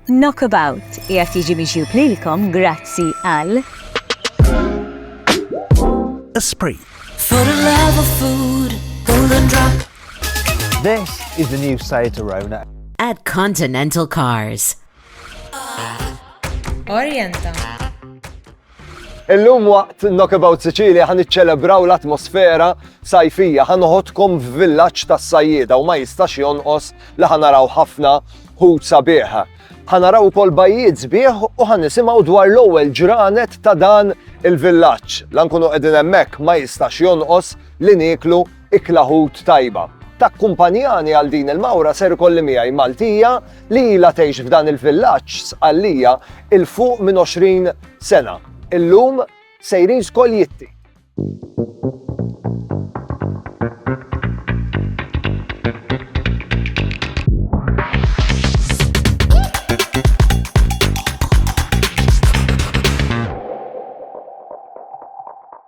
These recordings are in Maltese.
Knockabout qiegħed jiġi miġjub lilkom grazzi għal. Esprit. For the love of food, golden drop. This is the new Seat Arona. At Continental Cars. Orienta. Illum waqt Knockabout Sicilia ħa niċċelebraw l-atmosfera sajfija, ħa noħodkom f'villaġġ tas-sajjieda u ma jistax jonqos li ħa naraw ħafna ħut sabiħ. Ħa naraw ukoll bajjiet sbieħ u ħa nisimgħu dwar l-ewwel ġranet ta' dan il-villaġġ. Lankunu qegħdin hemmhekk ma jistax jonqos li nieklu Ikla ħut tajba. Takkumpanjani għal din il-mawra ser ikolli miegħi Maltija li ilha tgħix f'dan il-villaġġ Sqallija 'il fuq minn 20 sena. Illum sejrin skoll jitti.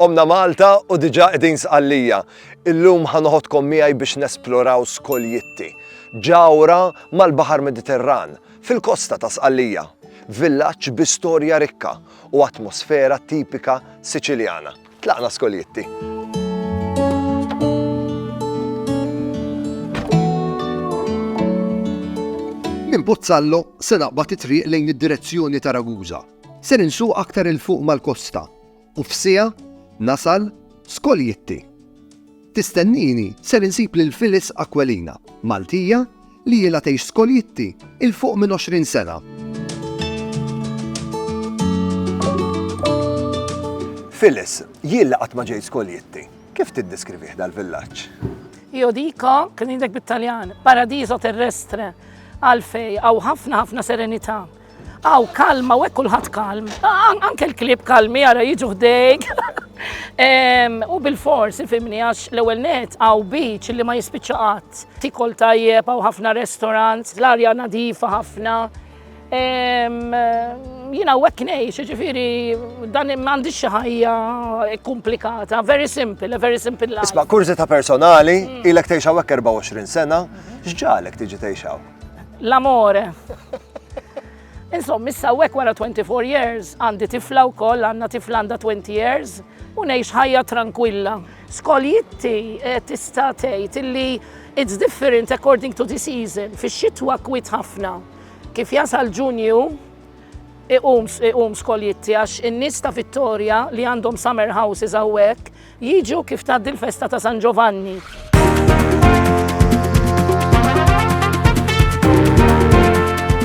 Qomna Malta u diġà qegħdin Sqallija. Illum ħa noħodkom miegħi biex nesploraw Skoljitti, ġawhra mal-Baħar Mediterran, fil-kosta ta' Sqallija. Villaġġ bi storja rikka u atmosfera tipika Siċiljana. Tlaqna Skoljitti. Minn Pozzallo se naqbad it-triq lejn id-direzzjoni ta' Ragusa. Ser insuq aktar 'il fuq mal-kosta u f'siegħa nasal Skoljitti. Tistennini ser insib lil Phyllis Aquilina, Maltija li ilha tgħix Skoljitti 'il fuq minn 20 sena. Phyllis, jien li qatt ma ġejt Skoljitti, kif tiddeskrivih dal-villaġġ? Io dico, kien indek bit-Taljan, paradiso terrestre, għalfej, għaw ħafna ħafna serenità. Aw, kalma, u hekk kulħadd kalm. Anke l-klib kalmi ara jiġu ħdejk. U bil-fors, fimni, għax l-ewwel net għaw beach li ma jispiċċa qatt. Tikol tajjeb għaw ħafna restaurant, l-arja nadifa ħafna. Jina u ngħix, ġifiri, dan m'għandix xi ħajja komplikata, very simple, very simple life. Isma' ta' personali, mm. ilek tgħix hawnhekk 24 sena, x'ġalek tiġi tgħix L-amore. Insomma, issa hekk wara 24 years għandi tifla wkoll għandna tifla għandha 20 years u ngħix ħajja tranquilla. Skoljitti eh, tista' tgħid illi it's different according to the season. Fix-xitwa kwit ħafna. Kif jasal Ġunju, iqum skoljitti għax in-nies ta' Vittoria li għandhom summer houses hawnhekk Jiġu kif tgħaddi l-festa ta' San Ġovanni.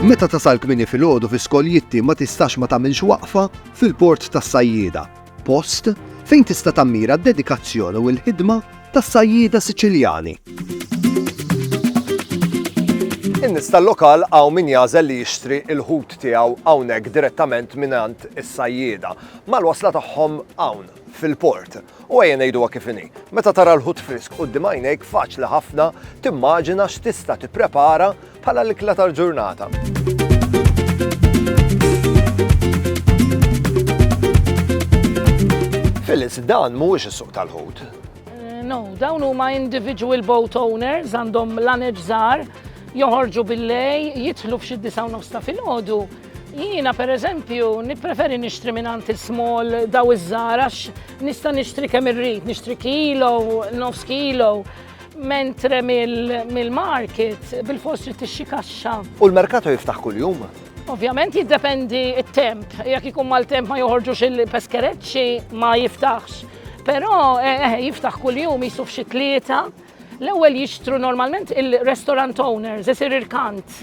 Meta tasal kmini fil-ħodu fi skoljitti ma tistax ma tagħmilx waqfa fil-port tas-sajjieda, post fejn tista' tammira d-dedikazzjoni u l-ħidma tas-sajjieda Siċiljani. In-nies tal-lokal hawn min jażel li jixtri l-ħut tiegħu hawnhekk direttament mingħand is-sajjieda. Mal-wasla tagħhom hawn fil-port. U ejja ngħiduha kif inhi. Meta tara l-ħut frisk quddiem għajnejk faċli ħafna timmaġina x'tista' tipprepara bħala l-ikla tal-ġurnata. Phyllis, dan mhuwiex is-suq tal-ħut. Eh, no, dawn huma individual boat owners għandhom l-aneġ żgħar joħorġu bil-lej, jitħlu f'xi disaw nofsta fil-ħodu Jiena per eżempju nippreferi nixtri minn għand small daw iż-żgħar għax nista' nixtri kemm irrid, nixtri kilo, nofs kilo, mentre mill-market bil-fost trid tixxi kaxxa. U l-merkato jiftaħ kuljum? Ovvjament jiddependi t-temp, jekk ikun mal-temp ma joħorġux il-peskereċċi ma jiftaħx. Però eh, eh, jiftaħ kuljum jisuf xi tlieta L-ewwel jixtru normalment il-restaurant owners, isir irkant,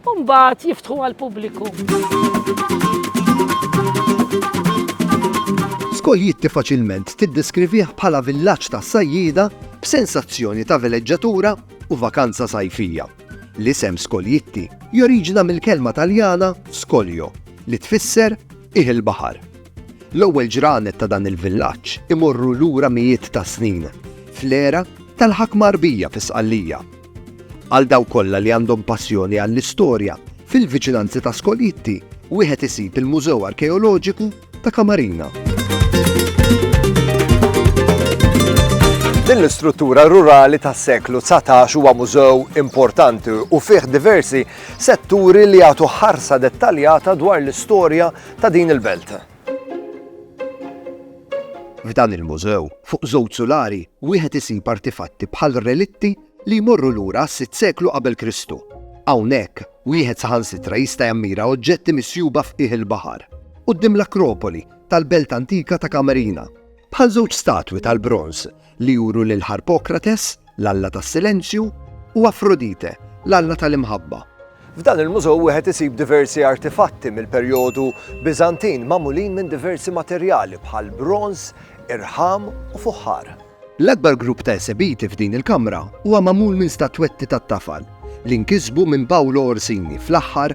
u mbagħad jiftħu għall-pubbliku. Skoljitti faċilment tiddeskrivih bħala villaġġ ta' sajjieda b'sensazzjoni ta' veleġġatura u vakanza sajfija. L-isem Skoljitti joriġina mill-kelma Taljana scolio li tfisser qiegħ il-baħar. L-ewwel ġranet ta' dan il-villaġġ imorru lura mijiet ta' snin, fl-era tal-ħakma Għarbija fi Sqallija. Għal dawk kollha li għandhom passjoni għall-istorja, fil-viċinanzi ta' Skoljitti wieħed isib il-Mużew Arkeoloġiku ta' Kamarina. Din l-istruttura rurali tas-seklu 19 huwa mużew importanti u fih diversi setturi li jagħtu ħarsa dettaljata dwar l-istorja ta' din il-belt. F'dan il-mużew, fuq żewġ sulari, wieħed isib artifatti bħal relitti li jmorru lura għas-sitt seklu qabel Kristu. Hawnhekk, wieħed saħansitra jista' jammira oġġetti misjuba f'qiegħ il-baħar, quddiem l-Akropoli tal-belt antika ta' Kamerina, bħal żewġ statwi tal-bronż li juru lil Harpokrates, l-alla tas-silenzju, u Afrodite, l-alla tal-imħabba. F'dan il-mużew wieħed isib diversi artifatti mill-perjodu Biżantin magħmulin minn diversi materjali bħal bronż, irħam u fuħħar. L-akbar grupp ta' esebiti f'din il-kamra huwa magħmul minn statwetti tat-tafal li nkisbu minn Paolo Orsini fl-aħħar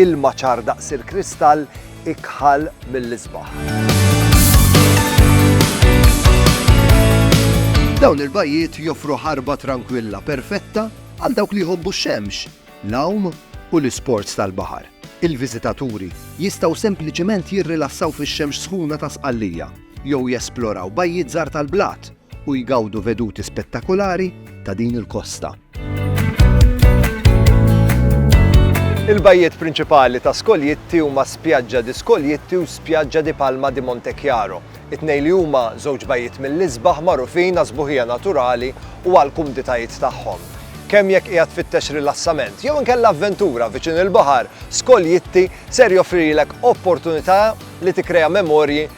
Ilma ċar daqs il-kristall ikħal mill-isbaħ. Dawn il-bajjiet joffru ħarba trankwilla perfetta għal dawk li jħobbu x-xemx, l-għawm u l-isports tal-baħar. Il-viżitaturi jistgħu sempliċement jirrilassaw fix-xemx sħuna ta' Sqallija jew jesploraw bajjiet żgħar tal-blat u jgawdu veduti spettakulari ta' din il-kosta. Il-bajjiet prinċipali ta' Skoljitti huma Spjaġġa di Skoljitti u Spjaġġa di Palma di Montechiaro. It-tnejn li huma żewġ bajjiet mill-isbaħ magħrufin għas-sbuħija naturali u għall-kumditajiet tagħhom. Kemm jekk qiegħed tfittex rilassament jew inkella avventura viċin il-baħar, Skoljitti ser joffrilek opportunità li tikkrea memorji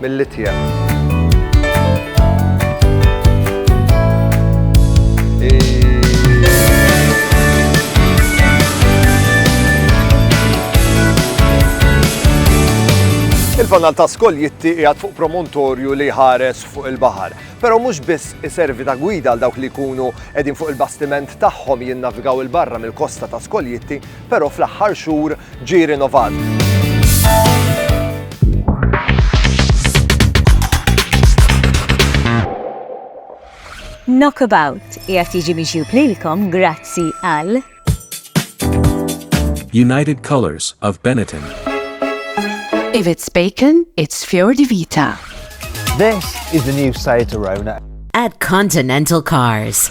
Mill-Litja. Il-fanal ta' skoljitti qiegħed fuq promontorju li ħares fuq il-baħar. Però mhux biss iservi ta' gwida għal dawk li jkunu qegħdin fuq il-bastiment tagħhom jinnavigaw il-barra mill-kosta ta' skoljitti, però fl-aħħar xhur ġie rinnovat. Knockabout qiegħed jiġi miġjub lilkom grazzi għal United Colors of Benetton. If it's bacon, it's Fior di Vita. This is the new Seat Arona. at Continental Cars.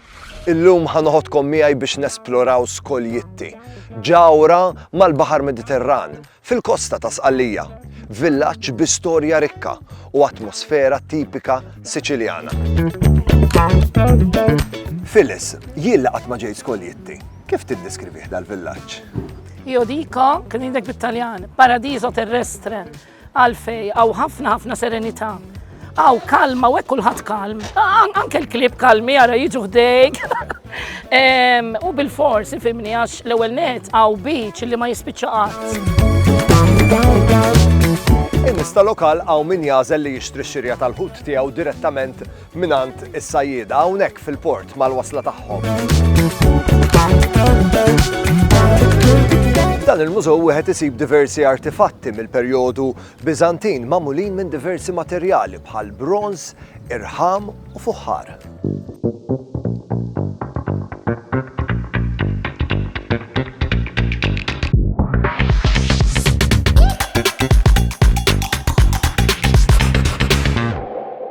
Illum ħa noħodkom miegħi biex nesploraw Skoljitti, ġawra mal-Baħar Mediterran, fil-kosta ta' Sqallija, villaġġ bi storja rikka u atmosfera tipika Siċiljana. Phyllis, jien li qatt ma ġejt Skoljitti, kif tiddeskrivih dal-villaġġ? Jodika, kien indek bit-Taljan, paradiso terrestre, Għalfej, hawn ħafna ħafna serenità. Hawn kalma u hekk kulħadd kalm. Anke l-klib kalmi ara jiġu ħdejk. U bil-fors, ifimni għax l-ewwel net hawn beach li ma jispiċċa qatt. Imista lokal hawn min jażel li jixtri x-xirja tal-ħut tiegħu direttament mingħand is-sajjieda hawnhekk fil-port mal-wasla tagħhom. Dan il-mużew wieħed isib diversi artifatti mill-perjodu Biżantin magħmulin minn diversi materjali bħal bronz, irħam u fuħħar.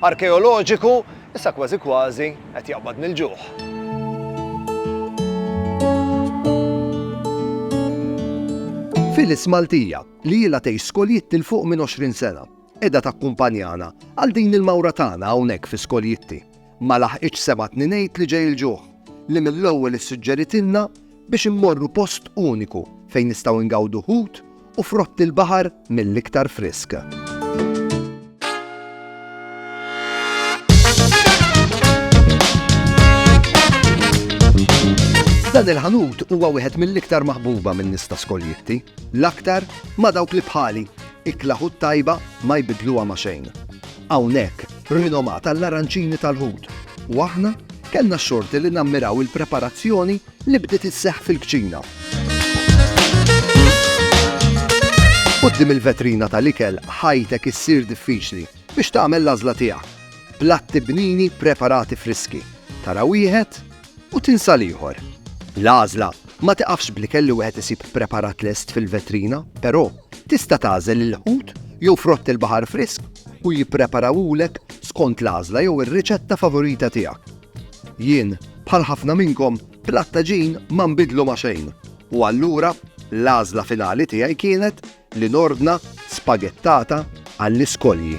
arkeoloġiku, issa kważi kważi qed jaqbad mill-ġuħ. Phyllis Maltija, li ilha tgħix Skoljitt 'il fuq minn 20 sena, qiegħda takkumpanjana għal din il-mawra tagħna hawnhekk fi Skoljitti. Ma laħqitx semgħatni ngħid li ġej il-ġuħ, li mill-ewwel issuġġeritilna biex immorru post uniku fejn nistgħu ngawdu ħut u frott il-baħar mill-iktar frisk. Dan il-ħanut huwa wieħed mill-iktar maħbuba minn nista skoljitti, l-aktar ma dawk li bħali ikla ħut tajba ma jbidluha ma xejn. Hawnhekk rinomat għall-aranċini tal-Lhud u aħna kellna x-xorti li nammiraw il-preparazzjoni li bdiet isseħħ fil-kċina. Quddiem il-vetrina tal-ikel ħajtek issir diffiċli biex tagħmel l-għażla tiegħek. Platti bnini preparati friski. Tara wieħed, u tinsa l-ieħor. L-għażla ma tiqafx bl-ikel li wieħed isib preparat lest fil-vetrina, però tista' tagħżel il-ħut jew frott il-baħar frisk u jippreparawhulek skont l-għażla jew ir-riċetta favorita tiegħek. Jien, bħal ħafna minnkom, bl-attaġin ma nbidlu ma' xejn, u allura l-għażla finali tiegħi kienet li nordna spagettata għall-iskolji.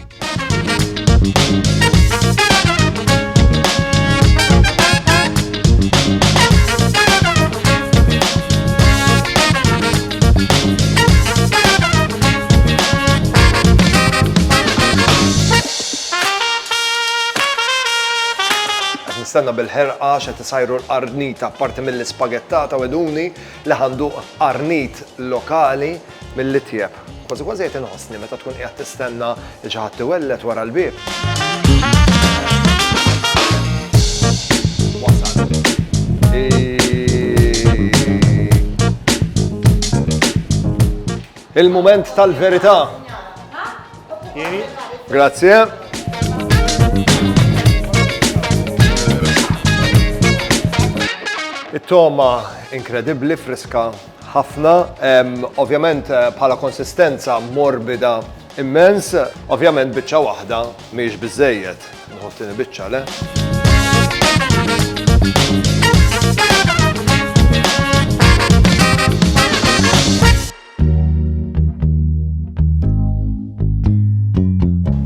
Qed nistenna bil-ħerqa x'qed isajru l-qarnita apparti mill-ispagettata weduni li għandu qarnit lokali mill-itjeb. Kważi kważi qed inħossni meta tkun qiegħed tistenna li xi ħadd iwellet wara l-bieb. Il-mument tal-verità. Grazie. It-toma inkredibbli, friska ħafna, ovvjament eh, bħala konsistenza morbida immens, ovvjament biċċa waħda miex biżejjed. Nħoftini biċċa le.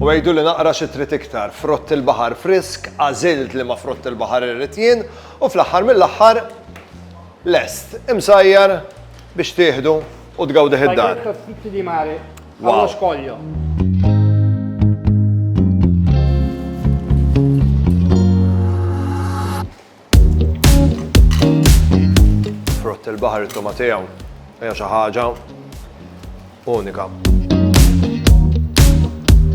U għiduli naqra xi trid iktar, frott il-baħar frisk, għażilt liema frott il-baħar irrid jien, u fl-aħħar mill-aħħar lest, imsajjar biex tieħdu u tgawdih id-dar. Spaghetti e fritti di mare, allo scoglio. Frott il-baħar it-toma tiegħu hija xi ħaġa unika.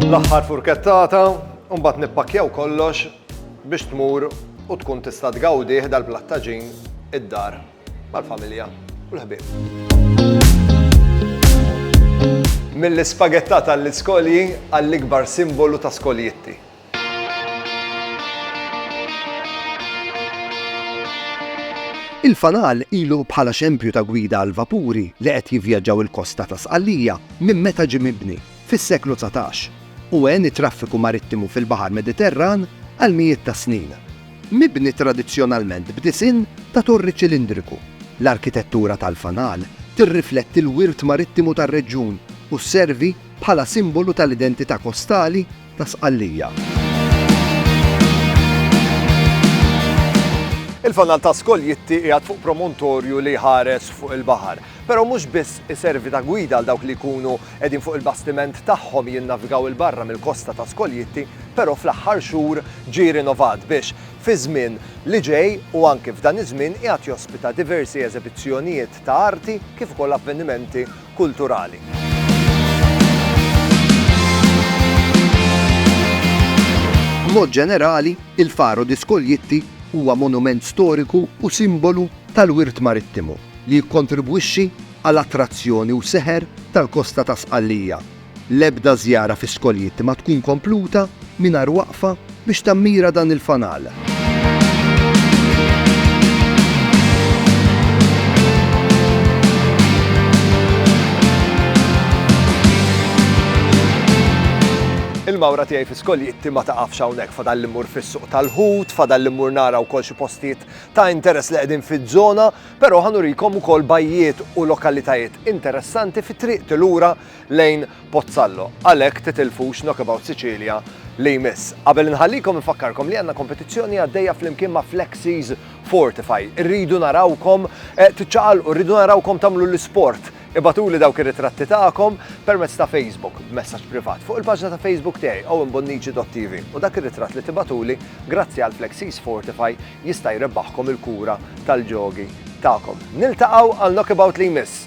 L-aħħar furkettata, u mbagħad nippakkjaw kollox biex tmur u tkun tista' tgawdih dal-plattaġin id-dar mal-familja u l-ħbieb. Mill-ispagettata għall-iskolji għall-ikbar simbolu ta' skoljitti. Il-fanal ilu bħala xempju ta' gwida għall-vapuri li qed jivvjaġġaw il-kosta ta' Sqallija minn meta ġie mibni, fis-seklu dsatax, u għen it-traffiku marittimu fil-Baħar Mediterran għal mijiet ta' snin. Mibni tradizzjonalment b'disinn ta' torri ċilindriku, l-arkitettura tal-fanal tirrifletti l-wirt marittimu tar-reġjun u sservi bħala simbolu tal-identità kostali ta' Sqallija. Il-Fanal ta' Skoljitti qiegħed fuq promontorju li jħares fuq il-baħar, però mhux biss iservi ta' gwida għal dawk li jkunu qegħdin fuq il-bastiment tagħhom jinnavigaw 'il barra mill-kosta ta' Skoljitti, però fl-aħħar xhur ġie rinovat biex fiż-żmien li ġej u anke f'dan iż-żmien qiegħed jospita diversi eżebizzjonijiet ta' arti kif ukoll avvenimenti kulturali. B'mod ġenerali, il-Faro di Scoglietti huwa monument storiku u simbolu tal-wirt marittimu li jikkontribwixxi għal attrazzjoni u seħer tal-kosta ta' Sqallija L-ebda żjara fi skoljiet ma tkun kompluta mingħajr waqfa biex tammira dan il-fanal. Il-mawra tiegħi fi skoljitti ma taqafx hawnhekk fadal li mmur fis-suq tal-ħut, fadal li mmur nara wkoll xi postijiet ta' interess li qegħdin fiż-żona, però ħanurikom ukoll bajjiet u lokalitajiet interessanti fi triq tilura lejn Pozzallo, għalhekk titilfux Knockabout Sicilia li jmiss. Qabel inħallikom infakkarkom li għandna kompetizzjoni għaddejja flimkien ma' Flexies Fortify. Irridu narawkom eh, tiċċaqalqu, rridu narawkom tagħmlu l-isport. Ibatuli dawk ir-ritratti tagħkom permezz ta' Facebook b'messaġġ privat fuq il-paġna ta' Facebook tiegħi owenbonnici.tv u dak ir-ritratt li tibatuli grazzi għal Flexies Fortify jista' jrebbaħkom il-kura tal-ġogi tagħkom. Niltaqgħu għal knockabout li jmiss.